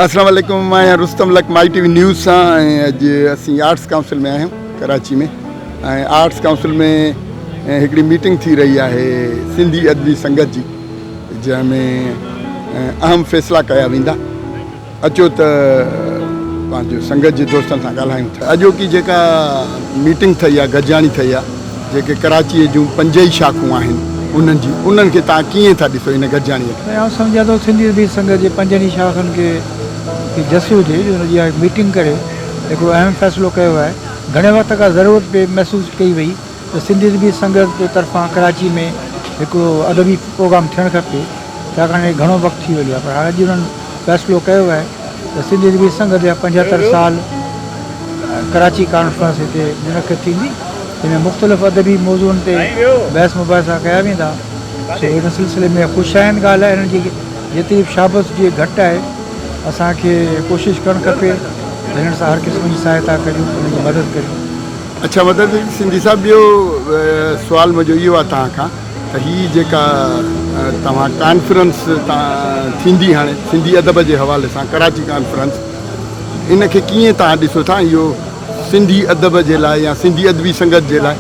اسلام عليڪم مان آهيان رستم لڪ مائي ٽي وي نيوز سان ۽ اڄ اسين آرٽس ڪائونسل ۾ آهيون ڪراچي ۾ ۽ آرٽس ڪائونسل ۾ هڪڙي ميٽنگ ٿي رهي آهي سنڌي ادبي سنگت جي جنهن ۾ اهم فيصلا ڪيا ويندا اچو ته پنهنجو سنگت جي دوستن سان ڳالهايون ٿا اڄوڪي جيڪا ميٽنگ ٿئي آهي گڏجاڻي ٿئي آهي جيڪي ڪراچيء جون پنج ئي شاخون آهن، انهن جي انهن کي توهان ڪيئن ٿا ڏسو ان گڏجاڻيء کي؟ ۽ آئون سمجهان ٿو سنڌي ادبي سنگت جي پنجن ئي شاخن کي هڪ جس هجي جو ان جي اها ميٽنگ ڪري هڪڙو اهم فيصلو ڪيو آهي. گهڻي وقت کان ضرورت پئي محسوس ڪئي وئي ته سنڌي ادبي سنگت جي طرفان ڪراچيء ۾ هڪڙو ادبي پروگرام ٿيڻ کپي، ڇاڪاڻ اهي گهڻو وقت ٿي ويو آهي پر هاڻ اڄ انهن فيصلو ڪيو آهي. ته سنڌ ادبي سنگت جا پنجهتر سال ڪراچي ڪانفرنس هتي منعقد ٿيندي جنهن ۾ مختلف ادبي موضوعن تي بحث مباحثا ڪيا ويندا سو ان سلسلي ۾ خوش آئند ڳالهه آهي انهن جي جيتري به شابس جي گهٽ آهي اسان کي ڪوشش ڪرڻ کپي ته هنن سان هر قسم جي سهائتا ڪريون انهن جي مدد ڪريون اڇا مدد سنڌي صاحب ٻيو سوال منهنجو اهو آهي توهان کان ته هي جيڪا توهان ڪانفرنس ٿيندي هاڻي سنڌي ادب جي حوالي سان ڪراچي ڪانفرنس ان کي ڪيئن توهان ڏسو ٿا ۽ اهو سنڌي ادب جي لاء يا سنڌي ادبي سنگت جي لاء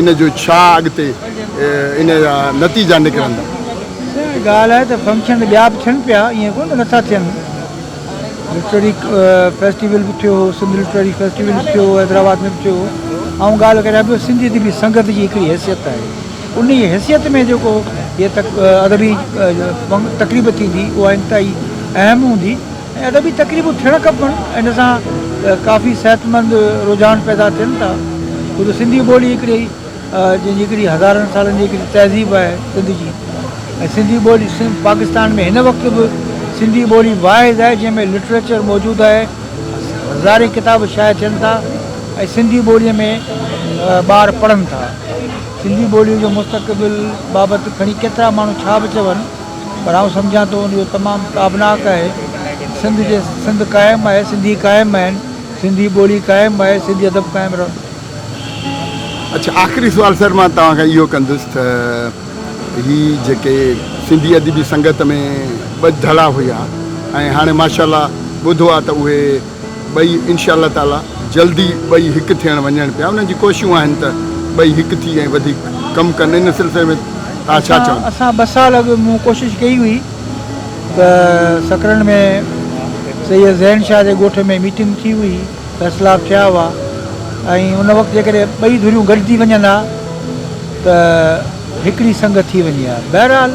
ان جو ڇا اڳتي ان جا نتيجا نڪرندا. سائين ڳالهه آهي ته فنڪشن ته ٻيا به ٿين پيا ائين ڪونه ته نٿا ٿين. لٽرري فيسٽيول به ٿيو هو سنڌ لٽرري فيسٽيول به ٿيو هو حيدرآباد ۾ به ٿيو هو آئون ڳالهه ڪريان پيو سنڌي ادبي سنگت جي هڪڙي حيثيت آهي ان جي حيثيت ۾ جيڪو هي تق ادبي تقريب ٿيندي اها انتهائي اهم هوندي ۽ ادبي تقريبون ٿيڻ کپن ان سان ڪافي صحت مند رجحان پيدا ٿين ٿا خود سنڌي ٻولي هڪڙي جنهن جي هڪڙي هزارن سالن جي هڪڙي تهذيب آهي سنڌ جي ۽ سنڌي ٻولي سنڌ پاڪستان ۾ هن وقت به سنڌي ٻولي واحد آهي جنهن ۾ لٽريچر موجود آهي هزارين ڪتاب شايع ٿين ٿا ۽ سنڌي ٻولي ۾ ٻار پڙهن ٿا سنڌي ٻولي جو مستقبل بابت کڻي ڪيترا ماڻهو ڇا به چون پر آئون سمجهان ٿو ان جو تمام تابناڪ آهي سنڌ جي سنڌ قائم آهي سنڌي قائم آهن سنڌي ٻولي قائم آهي سنڌي ادب قائم رهندو اڇا آخري سوال سر مان توهان کان اهو ڪندس ته هي جيڪي سنڌي ادبي سنگت ۾ ٻه ڌڙا هيا ۽ هاڻي ماشاءالله ٻڌو آ ته اهي ٻئي انشاء الله تعالي جلدي ٻئي هڪ ٿيڻ وڃن پيا انهن جي ڪوششون آهن ته ٻئي هڪ ٿي ۽ وڌيڪ ڪم ڪن ان سلسلي ۾ توهان ڇا چوندو. اسان ٻه سال اڳ مون ڪوشش ڪئي هئي ته سڪرنڊ ۾ سيد ذهين شاهه جي ڳوٺ ۾ ميٽنگ ٿي هئي فيصلا ٿيا هئا ۽ ان وقت جيڪڏهن ٻئي ڌريون گڏجي وڃن ها ته هڪڙي سنگ ٿي وڃي ها. بهرحال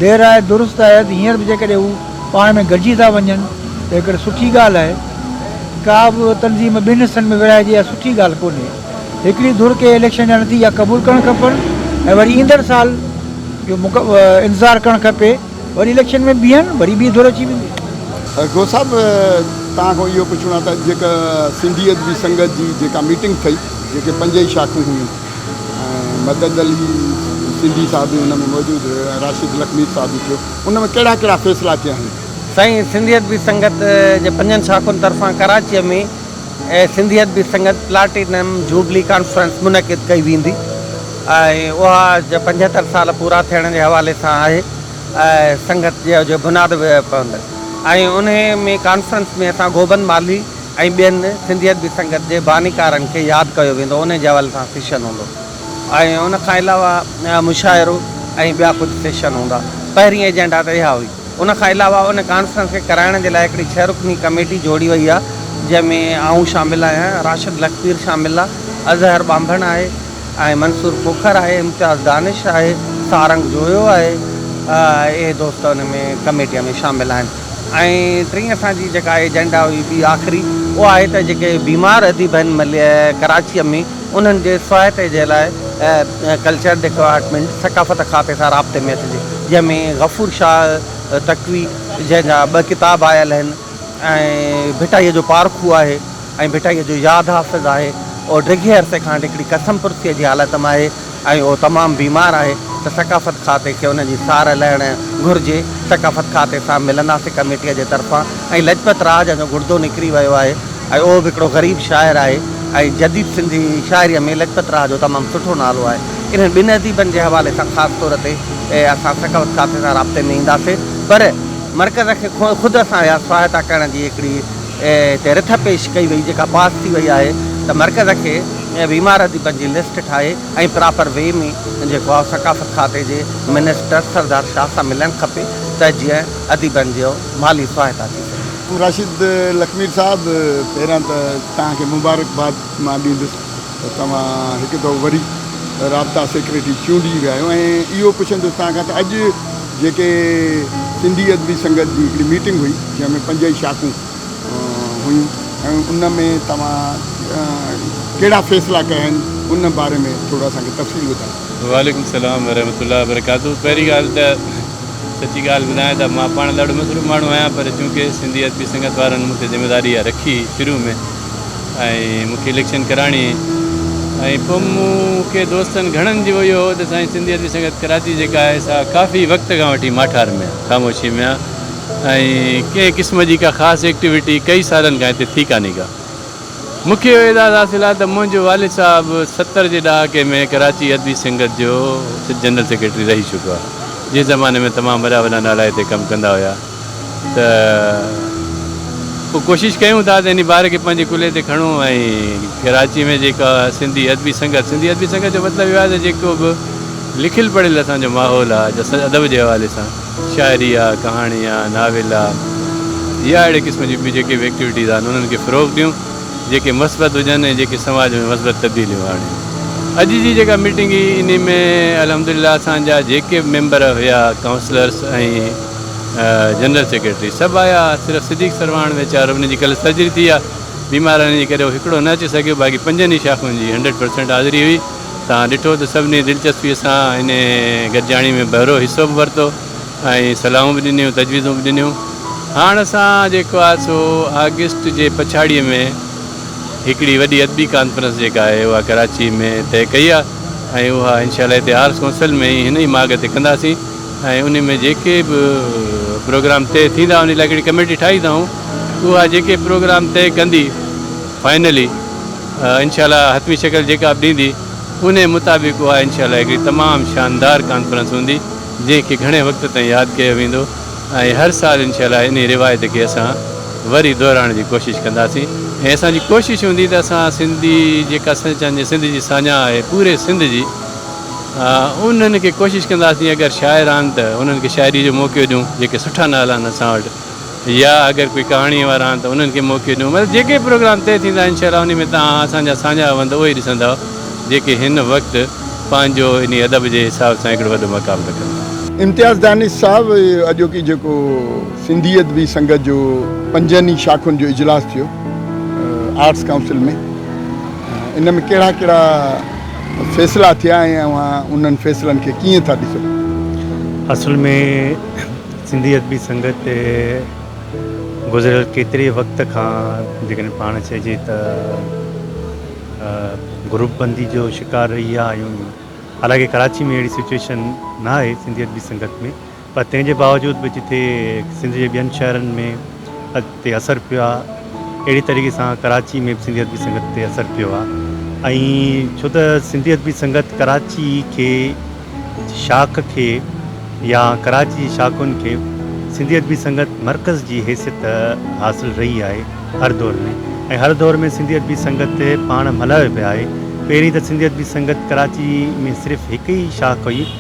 دير آء درست آء ته هينئر به جيڪڏهن هو پاڻ ۾ گڏجي ٿا وڃن ته هڪڙي سٺي ڳالهه آهي. ڪا به تنظيم ٻن حصن ۾ ورهائجي اها سٺي ڳالهه ڪونهي. هڪڙي ڌر کي اليڪشن جا نتيجا قبول ڪرڻ کپن ۽ وري ايندڙ سال جو انتظار ڪرڻ کپي. وري اليڪشن ۾ بيهن وري ٻي ڌر اچي ويندي. گو صاحب توهان کان اهو پڇڻو آهي ته جيڪا سنڌي ادبي سنگت جي جيڪا ميٽنگ ٿئي جيڪي پنج ئي شاخون هيون ۽ مدد علي سنڌي صاحب به ان ۾ موجود هيو ۽ راشد لکمير صاحب به ٿيو ان ۾ ڪهڙا ڪهڙا فيصلا ٿيا آهن؟ سائين سنڌي ادبي سنگت جي پنجن شاخن طرفان ڪراچيء ۾ Sindhi Adabi Sangat platinum jubilee conference منعقد ڪئي ويندي. ۽ اها جو پنجهتر سال پورا ٿيڻ جي حوالي سان آهي سنگت جو بناد به پوندو ۽ انهي ۾ ڪانفرنس ۾ اسان گوبند مالهي ۽ ٻين سنڌي ادبي سنگت جي بانيڪارن کي ياد ڪيو ويندو انهي جي حوالي سان سيشن هوندو ۽ ان کان علاوه مشاعرو ۽ ٻيا ڪجهه سيشن هوندا پهرين ايجنڊا ته اها هئي ان کان علاوه ان ڪانفرنس کي ڪرائڻ جي لاء هڪڙي ڇهه رڪني ڪميٽي جوڙي وئي آهي جنهن ۾ آئون شامل آهيان راشد لکپير شامل آهي اظهر ٻانڀڻ آهي ۽ منصور کوکر آهي، امتياز دانش آهي، سارنگ جويو آهي، اهي دوست ان ۾ ڪميٽيء ۾ شامل آهن ۽ ٽين اسان جي جيڪا ايجنڊا هئي ٻي آخري اها آهي ته جيڪي بيمار اديب آهن مليء ڪراچيء ۾ انهن جي سهائتي جي لاء ڪلچر ڊپارٽمينٽ ثقافت کاتي سان رابطي ۾ اچجي جنهن ۾ غفور شاهه تقوي جنهن جا ٻه ڪتاب آيل آهن ۽ ڀٽائيء جو پارکو آهي ۽ ڀٽائيء جو ياد حافظ آهي، اهو ڊگهي عرصي کان هڪڙي قسم پرسيء جي حالت ۾ آهي ۽ اهو تمام بيمار آهي ته ثقافت کاتي کي ان جي سار لهڻ گهرجي. ثقافت کاتي سان ملنداسين ڪميٽيء جي طرفان ۽ لجپت راء جنهن جو گڙدو نڪري ويو آهي ۽ اهو به هڪڙو غريب شاعر آهي ۽ جديد سنڌي شاعريء ۾ لجپت راء جو تمام سٺو نالو آهي. انهن ٻن اديبن جي حوالي سان خاص طور تي اسان ثقافت کاتي سان رابطي ۾ اينداسين پر مرڪز کي خود اسان اها سهائتا ڪرڻ جي هڪڙي تي رٿ پيش ڪئي وئي جيڪا پاس ٿي وئي آهي ته مرڪز کي بيمار اديبن جي لسٽ ٺاهي ۽ پراپر وي ۾ جيڪو آهي ثقافت کاتي جي منسٽر سردار شاهه سان ملڻ کپي ته جيئن اديبن جي مالي سهائتا ٿي سگهي. راشد لکمير صاحب پهريان ته توهان کي مبارڪباد مان ڏيندس ته توهان هڪ دفعو وري رابطا سيڪريٽري چونڊجي ويا آهيو ۽ اهو پڇندس توهان کان ته اڄ جيڪي سنڌي ادبي سنگت جي هڪڙي ميٽنگ هئي جنهن ۾ پنج ئي شاخون هيون ۽ ان ۾ توهان ڪهڙا فيصلا ڪيا آهن ان باري ۾ ٿورو اسان کي تفصيل ٻڌايو. وعليڪم السلام ورحمة الله وبرڪاته پهرين ڳالهه ته سچي ڳالهه ٻڌايان ته مان پاڻ ڏاڍو مصروف ماڻهو آهيان پر چونڪه سنڌي ادبي سنگت وارن مون تي ذميواري اها رکي شروع ۾ ۽ مونکي اليڪشن ڪرائڻي ۽ پوء مون کي دوستن گهڻن جو اهو هو ته سائين سنڌي ادبي سنگت ڪراچي جيڪا آهي سا ڪافي وقت کان وٺي ماٺار ۾ آهي خاموشي ۾ آهي ۽ ڪنهن قسم جي ڪا خاص ايڪٽيوٽي ڪئي سالن کان هتي ٿي ڪانهي ڪا مونکي اهو اعزاز حاصل آهي ته منهنجو والد صاحب ستر جي ڏهاڪي ۾ ڪراچي ادبي سنگت جو جنرل سيڪريٽري رهي چڪو آهي جنهن زماني ۾ تمام وڏا وڏا نالا هتي ڪم ڪندا هيا. ته پوء ڪوشش ڪيون ٿا ته ان بار کي پنهنجي ڪلهي تي کڻون ۽ ڪراچي ۾ جيڪا سنڌي ادبي سنگت، سنڌي ادبي سنگت جو مطلب اهو آهي ته جيڪو به لکيل پڙهيل اسان جو ماحول آهي جا سا ادب جي حوالي سان شاعري آهي، ڪهاڻي آهي، ناول آهي يا اهڙي قسم جون ٻيون جيڪي به ايڪٽيوٽيز آهن انهن کي فروغ ڏيون جيڪي مثبت هجن ۽ جيڪي سماج ۾ مثبت تبديليون آڻين. اڄ جي جيڪا ميٽنگ هئي ان ۾ الحمدلله اسان جا جيڪي به ميمبر هيا ڪائونسلرس ۽. جنرل سيڪريٽري سڀ آيا صرف صديق سرواڻ ويچارو ان جي ڪلهه سرجري ٿي آ بيمارن جي ڪري هو هڪڙو نه اچي سگهيو باقي پنجن ئي شاخن جي هنڊريڊ پرسينٽ حاضري هئي تان ڏٺو ته سڀني دلچسپي سان ان گڏجاڻي ۾ بهرو حصو به ورتو ۽ صلاحون به ڏنيون تجويزون به ڏنيون هاڻ اسان جيڪو آ سو آگسٽ جي پڇاڙي ۾ هڪڙي وڏي ادبي ڪانفرنس جيڪا آهي اها ڪراچي ۾ طئي ڪئي آ ۽ اها انشاء الله هتي آرٽس ڪونسل ۾ هن ئي ماڳ تي ڪنداسين ۽ انهي ۾ جيڪي به پروگرام طئي ٿيندا انهي لاء هڪڙي ڪميٽي ٺاهي اٿائون اها جيڪي پروگرام طئي ڪندي فائنلي انشاء الله حتمي شڪل جيڪا به ڏيندي انهي مطابق اها انشاء الله هڪڙي تمام شاندار ڪانفرنس هوندي جنهن کي گهڻي وقت تائين ياد ڪيو ويندو ۽ هر سال انشاء الله انهي روايت کي اسان وري دهرائڻ جي ڪوشش ڪنداسين ۽ اسان جي ڪوشش هوندي ته اسان سنڌي جيڪا سنڌ جي ساڃاهه آهي پوري سنڌ جي انهن کي ڪوشش ڪنداسين اگر شاعر آهن ته انهن کي شاعري جو موقعو ڏيون جيڪي سٺا ناول آهن اسان وٽ يا اگر ڪوئي ڪهاڻي وارا آهن ته انهن کي موقعو ڏيون مطلب جيڪي پروگرام طئي ٿيندا انشاء الله انهي ۾ توهان اسان جا ساڃاهه وند اهي ڏسندا جيڪي هن وقت پنهنجو انهي ادب جي حساب سان هڪڙو وڏو مقام رکن ٿا. امتياز دانش صاحب اڄوڪي جيڪو سنڌي ادبي سنگت جو پنجن ئي شاخن جو اجلاس ٿيو آرٽس ڪائونسل ۾ ان ۾ ڪهڙا ڪهڙا. فيصلا ٿيا ۽ اوهان انهن فيصلن کي ڪيئن ٿا ڏسو؟ اصل ۾ سنڌي ادبي سنگت گذريل ڪيتري وقت کان جيڪڏهن پاڻ چئجي ته گروپ بندي جو شڪار رهي آهيون حالانڪه ڪراچي ۾ اهڙي سچويشن نه آهي سنڌي ادبي سنگت ۾ پر تنهن جي باوجود به جتي سنڌ جي ٻين شهرن ۾ تي اثر پيو آهي اهڙي طريقي سان ڪراچي ۾ به سنڌي ادبي سنگت تي اثر پيو آهي ۽ ڇو ته سنڌي ادبي سنگت ڪراچي کي شاخ کي يا ڪراچي جي شاخن کي سنڌي ادبي سنگت مرڪز جي حيثيت حاصل رهي آهي هر دور ۾ ۽ هر دور ۾ سنڌي ادبي سنگت پاڻ ملهايو پيو آهي پهرين ته سنڌي ادبي سنگت ڪراچي ۾ صرف هڪ ئي شاخ هئي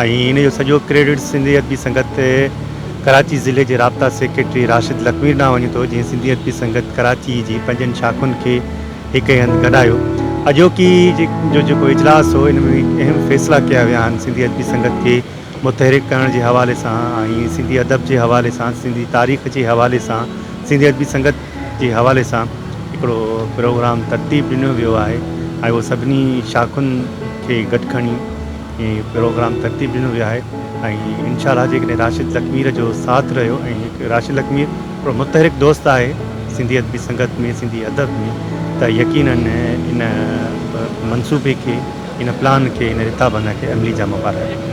۽ ان جو سڄو ڪريڊٽ سنڌي ادبي سنگت ڪراچي ضلعي جي رابطا سيڪريٽري راشد لکمير ڏانهن وڃي ٿو جنهن سنڌي ادبي سنگت ڪراچي جي پنجن شاخن کي هڪ ئي هنڌ گڏايو. اڄوڪي جو جيڪو اجلاس هو ان ۾ اهم فيصلا ڪيا ويا آهن سنڌي ادبي سنگت کي متحرڪ ڪرڻ جي حوالي سان ۽ سنڌي ادب جي حوالي سان سنڌي تاريخ جي حوالي سان سنڌي ادبي سنگت جي حوالي سان هڪڙو پروگرام ترتيب ڏنو ويو آهي ۽ اهو سڀني شاخن کي گڏ کڻي ۽ پروگرام ترتيب ڏنو ويو آهي ۽ انشاء الله جيڪڏهن راشد لکمير جو ساٿ رهيو ۽ راشد لکمير هڪڙو متحرڪ دوست آهي سنڌي ادبي سنگت ۾ سنڌي ادب ۾ ته يقينن ان منصوبي کي ان پلان کي ان رٿابنده کي عملي جامو پارائيندو.